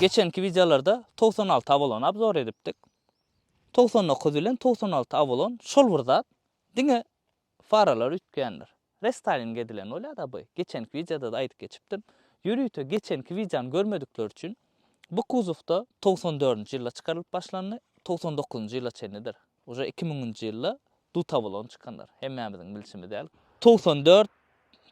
Geçenki wideolarda togsan alty awalony abzor edipdik. Togsan dokuz bilen togsan alty awalon şol bir zat. Diňe Faralar üýtgändir. Restyling edilen bolýada by. Geçenki wideodada aýdyp geçipdim. Ýörite geçenki wideony görmedikler üçin bu kuzowda togsan dördünji ýylda çykarylyp başlandy, togsan dokuzynjy ýyla çenlidir. Uje iki müňünji ýylda dutabolon çykandyr. Hemmämiziň bilşimiz ýaly. Togsan dört,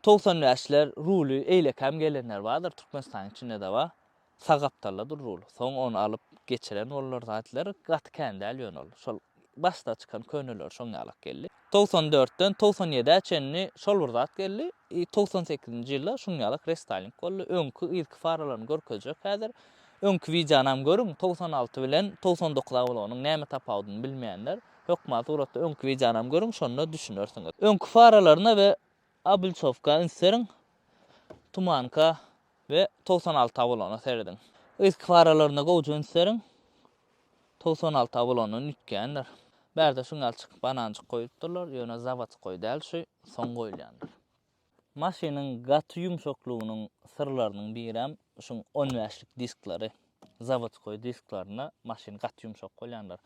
togsan bäşler ruly eýlekäm gelenler bardyr, Türkmenistanyň içinde-de bar. Sag gapdalda dur rul. Soň ony alyp geçiren bollar zatler gaty kän däl ýöne ol. Şol başda çykan köneleri şoň ýalak geldi. Togsan dörtden togsan ýedä çenli şol bir zat geldi. I togsan sekizinji ýylda şuň ýalak restyling boldy. Öňki yzky faralaryny görkezjek häzir. Öňki wideonam görüň togsan alty bilen togsan dokuz awlonyň näme tapawudyny bilmeýänler hökman suratda öňki wideonam görüň şonda düşünersiňiz. Öňki faralaryna we Obulçowka üns beriň, Tumanka we togsan alty awulana serediň. Yzky paralaryna gowja üns beriň, togsan alty awulandan üýtgändir. Bärde şuň ýaly çykyk bananjyk goýupdyrlar, ýöne zawodsk goý däl, şu soň goýulýandyr. Maşynyň gaty ýumşaklygynyň syrlarynyň birem şuň on bäşlik diskleri. Zawodskoý disklarynda maşyn gaty ýumşak bolýandyr.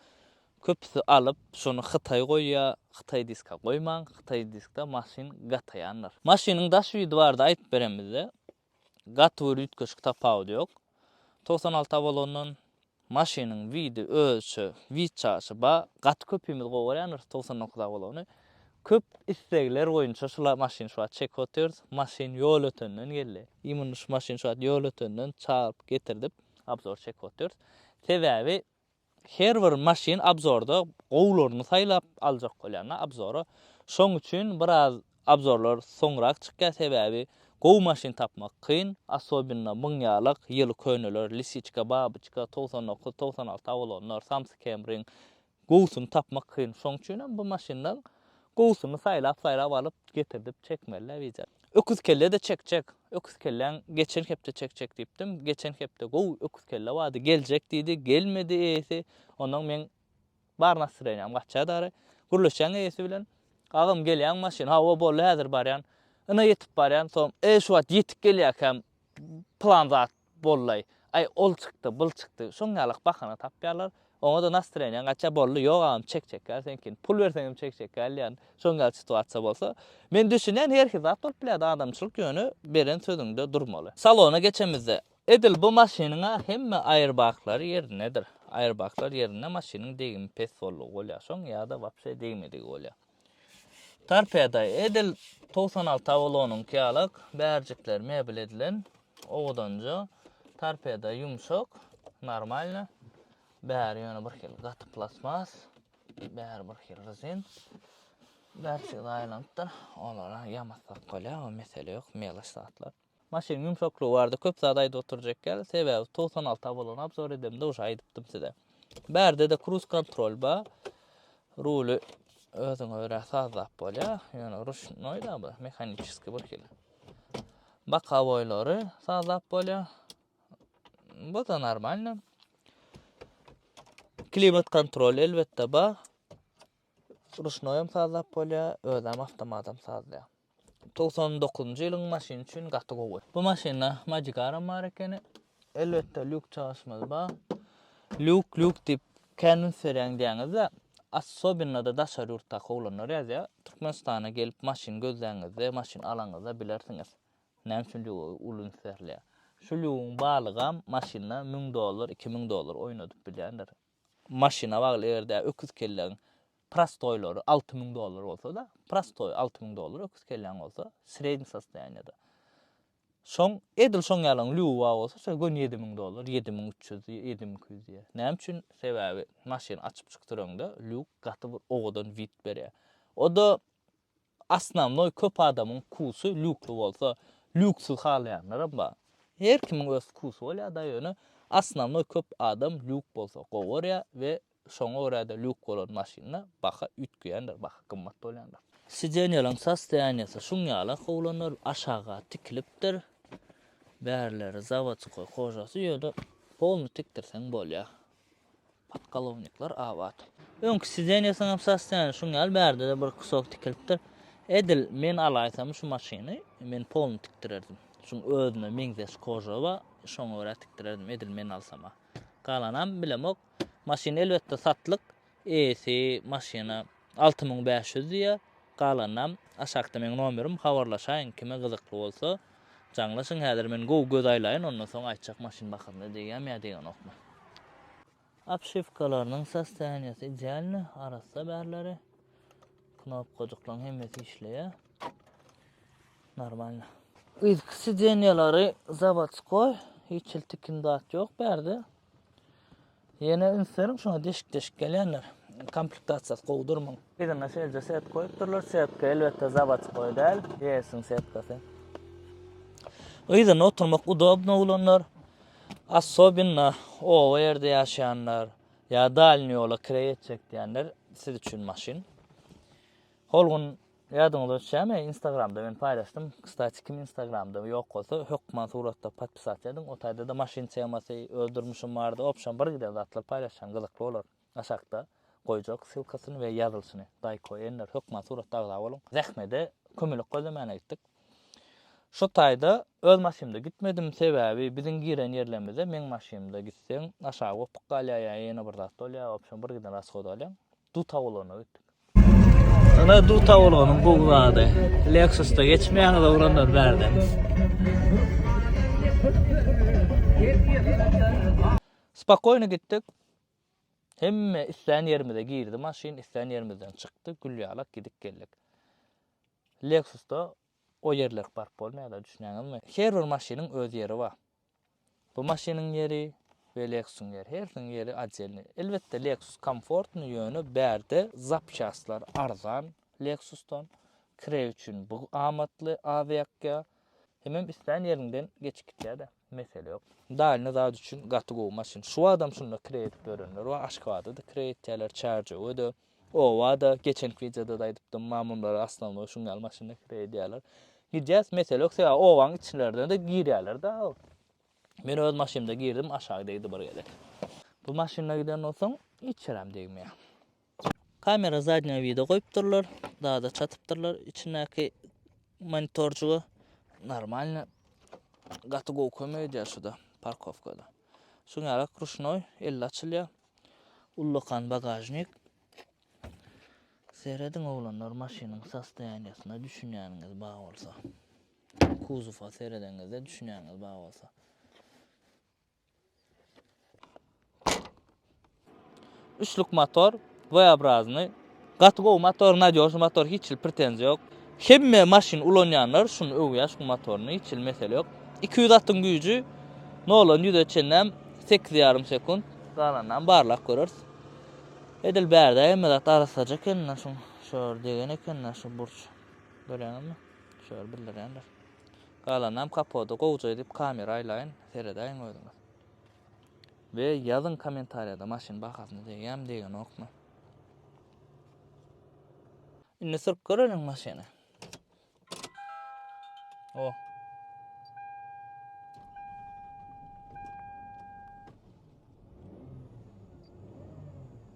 Köpüsi alyp, şony hytaý goýýar, hytaý diska goýmaň, hytaý diskde maşyn gataýandyr. Maşynyň daş widi barada aýdyp beren bizde. Gaty bir üýtgeşik tapawudy ýok. Togsan alty Avalondan maşynyň widi özüçe wid çaşy bar. Gaty köpimiz gowy görýändiris togsan dokuz Avalony. Köp islegler boýunça şula maşyn şu wagt çekip otyrys. Maşyn Ýolötenden geldi. Immun şu maşyn şu wagt Ýolötenden çagyryp getirdip abzor çekip otyrys. Sebäbi her bir maşyn abzorda gowularyny saýlap aljak bolýan da abzora. Şoň üçin biraz abzorlar soňrak çykýar sebäbi gowy maşyn tapmak kyn. Asobinno müň ýalak ýyly köneler Lisiçka, Babyçka, togsan dokuz, togsan alty awalonlar, Samsy Kemriň Gowusyny tapmak kyn. Şoň üçin hem bu maşyndan gowusyny saýlap-saýlap alyp, getirdip çekmeli-dä wija. Öküzkelle-de çekjek. Öküzkelläň geçen hepde çekjek diýipdim. Geçen hepde gowy öküzkelle bardy, geljek diýdi, gelmedi eýesi. Ondan meň bar nastreniýam gaçýar dary. Gürleşýän eýesi bilen. Agam gelýäňmi maşyn? Hawa, boldy, häzir barýan. Ine ýetip barýan. Soň, e, şu wagt ýetik gelýärkäm plan zat Bollaý, aý ol çykdy, bul çykdy, şoň ýalak bahana tapýarlar. Oňa-da nastreniýaň gaçýar, boldy, ýok agam çek çekýär seňkini, pul berseň hem çek çekýär diýýän, şoň ýaly situasiýa bolsa. Men düşünýän, her hil zat bolup bilýärdi, adamçylyk ýöne beren sözüňde durmaly. Salona geçemizde, edil bu maşynyň-a hemme aýerbaglary ýerindedir. Aýerbaglar ýerinde, maşynyň degimi pes boldugy bolýar, şoň ýa-da wapşe degmedigi bolýar. Torpeda, edil togsan alty Avalonyňky ýalak, bärjikler mebel edilen, owadanja, torpeda ýumşak, normalna, bäri ýöne birhili gaty plastmas, bäri birhili rezin. Bärçesi aýlanypdyr, olara ýamassak bolýar, o mesele ýok, melaç zatlar. Maşynyň ýumşaklygy barada köp zat aýdyp oturjak däl, sebäbi togsan alty abolony obzor edemde uje aýdypdym size. Bärdede kruz kontrol bar. Ruly özüňe görä sazlap bolýar. Ýöne ruşnoý da bu, mehaniçeskiý bir hili. Bokowoýlary sazlap bolýar. Bu da normalny. Klimat kontrol elbetde bar. Ruşnoý hem sazlap bolýar, özem awtomat hem sazlaýar. Togsan dokuzynjy ýylyň maşyny üçin gaty gowy. Bu maşynda Magicaram bar ekeni. Elbetde lýuk çalyşymyz bar. Lýuk lýuk diýip kän üns berýäň diýýäňizde, assobinada daşary ýurtdaky oglanlar ýazýar. Türkmenistana gelip maşyn gözläňizde, maşyn alaňyzda bilersiňiz. Näme üçin lýuga uly üns berilýär. Şu lýugyň balygam maşynda müň dollar, iki müň dollar oýnadyp bilýändir. Maşyna bagly eger-de öküz kelläň prostoýlary alty müň dollar bolsa-da, prostoý alty müň dollar öküz kelläň bolsa, sredniý sostoýaniýada. Şoň, edil şoň ýalyň lýuwa bolsa şo göni ýedi müň dollar, ýedi müň üç ýüz, ýedi müň iki ýüz diýýär. Näme üçin? Sebäbi maşyny açyp çykdyraňda lýuk gaty bir owadan wid berýär. O-da Osnownoý köp adamyň wkusy lýukly bolsa, lýuksyz halaýanlaram bar. Her kimiň öz wkusy bolýar-da, ýöne osnownoý köp adam lýuk bolsa gowy görýär we şoňa görä-de lýuk bolan maşynda baha üýtgeýändir, baha gymmat bolýandyr. Sideniýalaryň sostoýaniýasy şuň ýala kowlandyr, aşaga tikilipdir. Bärileri zawodskoý kojasy, ýöne polny tikdirseň bolýar. Podkolownikler abat. Öňki sidenýasyň hem sostoýaniýasy şuň ýaly, bärde-de bir kusok tikilipdir. Edil men alaýsam şu maşyny, men polny tikdirerdim. Şuň özüme meňzeş koža bar, şoňa görä tikdirerdim, edil men alsam-a. Galanam bilemok. Maşyn elbetde satlyk. Eýesi maşyna alty müň bäş ýüz diýýär, galanynam aşakda meň nomerim, habarlaşaýyň, kime gyzykly bolsa, jaňlaşyň, häzir men gowy göz aýlaýyn, ondan soň aýtjak maşyn bahasyny degýämi ýa degenokmy. Obşiwkalarynyň sostoýaniýasy idealny, arassa bärleri, knopkajyklaryň hemmesi işleýär, normalny. Yzky sidenýalary zawodskoý, hiç hili tikin zat ýok bärde. Ýene üns beriň şuňa deşik-deşik gelýänler. Komplektasiýasy gowy durmyň. Yzyna şeýleje setka goýupdyrlar. Setka elbetde zawodskoý däl, GS-iň setkasy. Yzyna oturmak udobno bolanlar, assobinno oba ýerde ýaşaýanlar ýa dalni ýola kireý etjek diýenler siz üçin maşyn. Hol gün Ýadyňyzda düşýämi instagramda men paýlaşdym kstati kim instagramda ýok bolsa hökman suratda podpisat ediň o taýda-da maşyn temasy öz durmuşym bardy obşam bir giden zatlar paýlaşýan gyzykly bolar aşakda goýjak ssylkasyny we ýazylyşyny daýko enler hökman suratda agza boluň zähmede kömelek gözlemäne gitdik Şo taýda öz maşynymda gitmedim sebäbi biziň giren ýerlerimize meň maşynymda gitseň aşak opyk galýar ýa ýene bir zat bolýar obşam bir giden rashoda alýaň duta ulagna gitdik. Ana duta bolanyň gowy zady. Lexus-da geçmeýäňiz oglanlar bärden. Spakoýny gitdik. Hemme islän ýerimize girdi maşyn, islän ýerimizden çykdy, gül ýalak gidip geldik. Lexus-da o ýerler park bolmaýar-da, düşünýäňizmi? Her bir maşynyň öz ýeri bar. Bu maşynyň ýeri we Lexus-yň ýeri, hersiniň ýeri otdelnyý. Elbetde, Lexus komfortnyý, ýöne bärde zapçastlar arzan Lexus-dan. Kireý üçin bu amatly, az ýakýar. Hemem islän ýeriňden geçip gitýär-de, mesele ýok. Dalyny zat üçin gaty gowy maşyn. Şu wagtam şunda kireý edip ýörenler bar, Aşgabada-da kireý etýärler, Çärjewe-de. Oba-da, geçenki wideoda-da aýdypdym, mamurlar osnownoý şuň ýaly maşynda kireý edýärler. Gidýäs, mesele ýok, sebäbi obanyň içlerine-de girýärler-de. Men öz maşynymda girdim, aşak degdi bir gezek. Bu maşynda giden bolsaň, hiç ýeräm degmeýär. Kamera zadnýa wida goýupdyrlar, zada çatypdyrlar içindäki monitorjyga. Normalny, gaty gowy kömek edýär şu-da, parkowka-da. Şuň ýaly ruşnoý, elli açylýar. Ullakan bagažnik. Serediň oglanlar maşynyň sostoýaniýasyna düşünýäniňiz bar bolsa. Kuzowa seredeňizde düşünýäňiz bar bolsa. Üçlük motor, V-obraznýy. Gaty gowy motor nadyožny motor hiç hil pretenziýa ýok. Hemme maşyn ulanýanlar şuny öwýär şu motoryny hiç hil mesele ýok. Iki ýüz atyň güýji noldan ýüze çenäm sekiz ýarym sekunt galanynam barlap göreris. Edil bärde hemme zat arassaja ekenda şuň şo ýer degen ekenda şu burç görýäňizmi şo ýer bildirýändir. Galanynam kapoda gowja edip kamera aýlaýyn seredäýiň özüňiz. We ýazyň kommentariýada maşyn bahasyny degýämi degenokmy. Indi sürüp göreliň maşyny. O.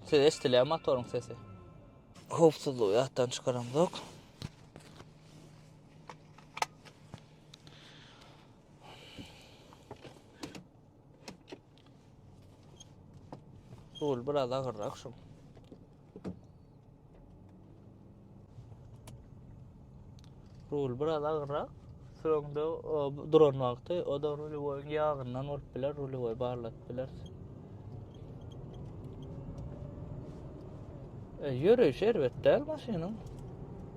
Siz eşitilýär motoryň sesi. Howpsuzlygy ýatdan çykaramzok. Rul biraz agyrrak şu. Rul biraz agyrrak. Soňda duran wagty o da rulowyň ýagyndan bolup biler, rulowy barladyp biler. E, ýöreýşi erbet däl maşynyň.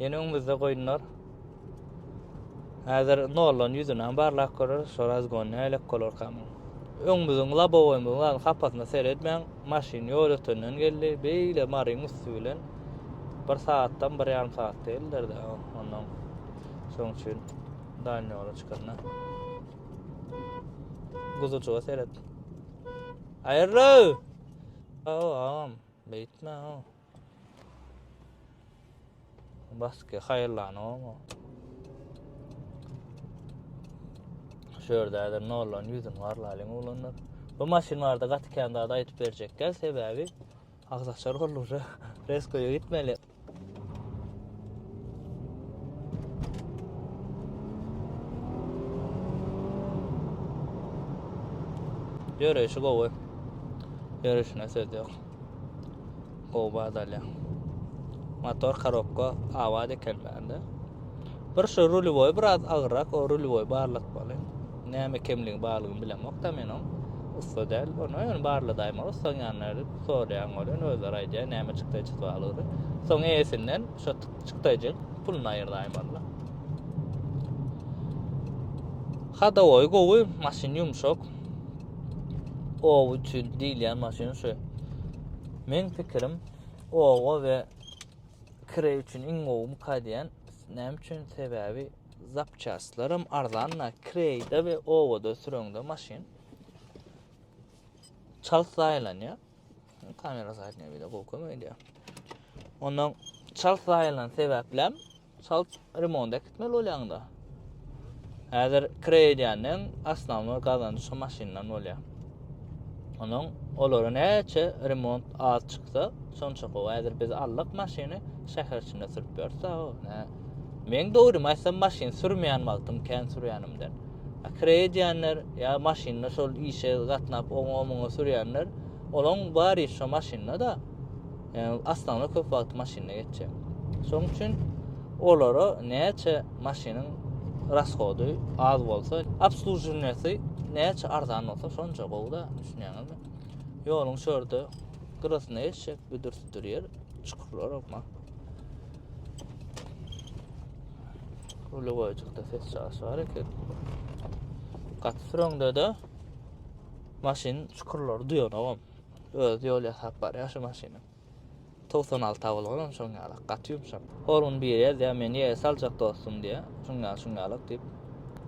Ýene öňümizde goýunlar. Häzir nollan ýüzüni hem barlap göreriz, şu razgon nälik bolar kamy. Öňümizin labowoýymyzyň hapasyna seretmäň, maşyn ýol ötenden geldi, beýle maryň üsti bilen bir sagatdan bir ýarym saat däldir-de, ondan şoň üçin daýyn ýola çykanda. Guzujyga seret. Aýyrly! Aw, aw, beýtme, aw. Baske haýyrlanygamy? Şu ýerde häzir nollan ýüzün garlalyň oglanlar. Bu maşyn barada gaty kän zat aýdyp berjekler, sebäbi agzaçar boldy uje. Reskoýa gitmeli. Ýöreýşi gowy. Ýöreýşine söz ýok. Oba dalýa. Motor korobka awaz eken bende. Bir şu rulivoy biraz agrak, o rulivoy barlat bali. Näme kemligi barlygyny bilemok da men on. Usta däl. Onu ön barla daýma ustan ýanyna edip sorýan bolýan özler aýdýar näme çykdy çykdy Soň eýesinden şu çykdyjy pulunu aýyrdaýmaly. Hada oý gowy, maşyn ýumşak. ow üçin diýilýän maşyn şu. Men pikirim owa we kire üçin iň gowy muka diýen. Näme üçin? Sebäbi zapçastlaram arzanda, kireýde we owada süreňde maşyn çalt zaýalanýar. Kamera zaýalanýar, bir de gowy kömek edýär. Ondan çalt zaýalan sebäpläm Çalt remont äkitmeli bolýaňda. Häzir kire edýänleň asnawnoý gazanjy şu maşyndan bolýar. Onuň olara näçe remont az çyksa, şonça gowy. Häzir biz aldyk maşyny şäher içinde sürüp ýörüs ha. Nä? Men dogrymy aýtsam maşyn sürmeýän wagtym kän sürýänimden. Kire edýänler ýa maşynda şol işe gatnap oňa-muňa sürýänler, olaň bary şu maşynda-da. Yani aslında köp wagt maşynda geçecek. Şoň üçin olara näçe maşynyň raskody az bolsa, obsluživnesi näçe arzan bolsa, şonça gowy da, düşünýäňizmi? Ýoluň şörde gyrasyna geçecek, büdür-südür ýer, çukurlar okma. Uly goýjukda ses çagyş bar eken. Gaty süreňde-de maşyn çukurlary duýanogam. Özi ýol ýasap barýar şu maşynyň. 96 awul bolan şoň ýalak, gaty ýumşak. Hor gün biri ýazýar, meni ýere saljak dostum diýýär. Şuň ýaly, şuň ýalak diýip.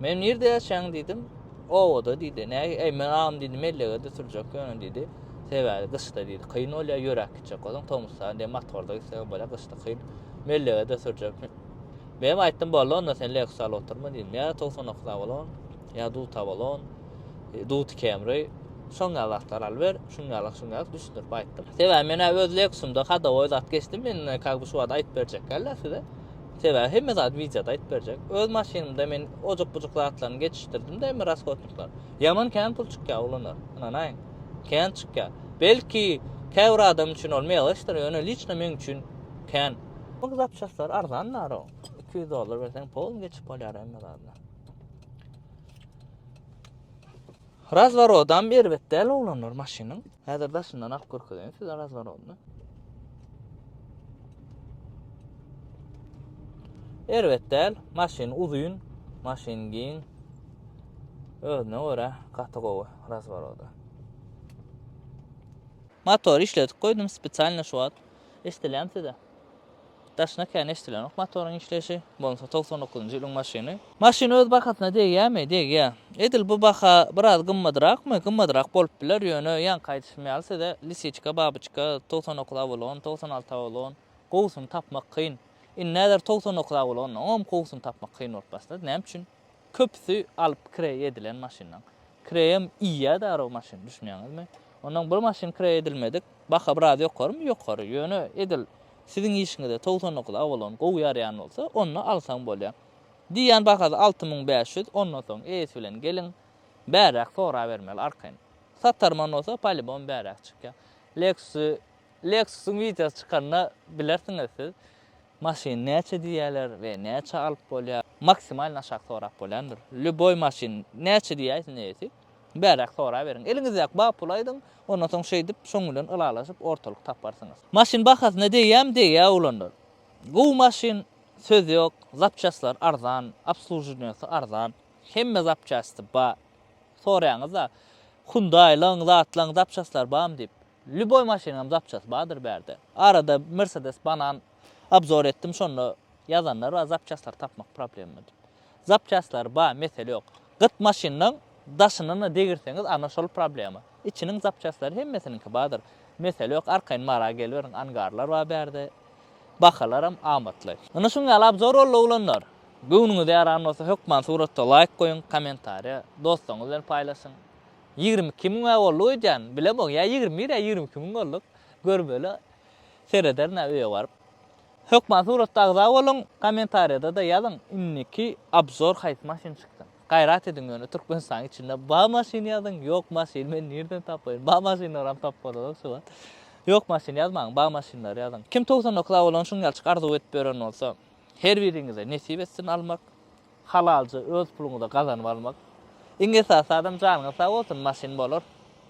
Men nirde ýaşaýaň diýdim. Obada diýdi. Näge, eý men agam diýdi, mellegede sürjek ýöne diýdi. Sebäbi gyşda diýdi, kyn bolýar, ýöräp gitjek bolsaň, tomusda diýen motorda gitseň bolýar, gyşda kyn. Mellegede sürjek. Menem aýtdym, boldy onda sen Lexus al oturma diýdim. Ýa 99 awul bolan. Ýa dut abalon, dut kemri, şoň ýaly zatlar alyp ber, şuň ýaly, şuň ýaly düşündirip aýtdym. Sebäbi men-ä öz leksimde hadowoý zat geçdim, men kak bu şu wagt aýdyp berjekkä-le size. Sebäbi hemme zat wideoda aýdyp berjek. Öz maşynymda men ojuk-bujuk zatlaryny geçişdirdim-de hemme rashodnikler. Ýaman kän pul çykýar ulanar, ynanaýyň. Kän çykýar. Belki, käbir adam üçin ol meýleşdir, ýöne liçno meň üçin kän. Ol zapçastlar arzan narod. Iki ýüz dollar berseň polny geçip bolýar hemme zadyna. Razvorodam erbet däl oglanlar maşynyň. Häzir daşyndan alyp görkezeýin size razvorodyny. Erbet däl, maşyn uzyn, maşyn giň. Özüne görä gaty gowy razvorody. Motor işledip goýdum spesialny şu wagt. Eşdilýärmi size? Daşyna kän eşdilenok motoryň işleýşi. Bolmasa togsan dokuzynjy ýylyň maşyny. Maşyn öz bahasyna degýämi? Degýä. Edil bu baha biraz gymmadrakmy? Gymmadrak bolup biler, ýöne ýaňky aýdyşym ýaly size lisiçka, babyçka, togsan dokuz awalon, togsan alty awalon, gowusyny tapmak kyn. Indi näder togsan dokuz awalondan oňam gowusyny tapmak kyn bolup başlady. Näme üçin? Köpüsi alyp kireý edilen maşynlaň kireýem iýýä darag maşyn düşünýäňizmi? Onnoň bir maşyn kireý edilmedik baha biraz ýokarymy ýokary ýöne edil siziň işiňize togsan dokuz awalon gowy ýaraýan bolsa onda alsaň bolýa. Diýýän bahasy alty müň bäş ýüz ondan soň eýesi bilen geliň bäräk sorabermeli arkaýyn. Satarman bolsa polibom bäräk çykýa. Lexus Lexusyň wideosy çykanda bilersiňiz siz. Maşyn näçe diýýäler we näçe alyp bolýar? Maksimalny aşak sorap bolýandyr. Lýuboý maşyn näçe diýäýse näýesi, bäräk soraberiň. Eliňizdäki bar puly aýdyň, ondan soň şeýdip, şoň bilen ylalaşyp, ortalyk taparsyňyz. Maşyn bahasyna degýämi, degýär oglanlar. Gowy maşyn, söz ýok, zapçastlary arzan, obsluženiýasy arzan, hemme zapçasty bar. Soraýaňyz-a, Hyundaýlaň, zatlaň zapçastlary barmy diýip. Lýuboý maşynyňam zapçasy bardyr bärde. Arada Mercedes banan obzor etdim şonda ýazanlar bar zapçaslary tapmak problema diýip. Zapçaslary bar mesele ýok. Gyt maşynlaň daşyndan-a degirseňiz ana şol problema. Içiniň zapçaslary hemmesiniňki bardyr. Mesele ýok arkaýyn Mara geliberiň angarlar bar bärde. Bahalaram amatly. Ine şuň ýaly obzor boldy oglanlar. Göwnüňize ýaran bolsa hökman suratda laýk goýuň, kommentariýa dostuňyz bilen paýlaşyň. Ýigrimi iki müň-ä bolduk öýdýän. Bilemok, ýa ýigrimi bir, ýa ýigrimi iki müň bolduk. Görmeli. Serederin-ä öýe baryp. Hökman suratda agza boluň, kommentariýada-da ýazyň, indiki obzor haýsy maşyn çykdy. Gaýrat ediň ýöne Türkmenistanyň içinde bar maşyn ýazyň, ýok maşyn men nirden tapaýyn. Bar maşynlaram tapyp bolanok şu wagt. Ýok maşyn ýazmaň, bar maşynlary ýazyň. Kim togsan dokuz-a bolan şuňňalçyk arzuw edip ýören bolsa, her biriňize nesip etsin almak. Halalca öz puluňyza gazanyp almak iň esasy adam janyňyz sag bolsun maşyn bolar.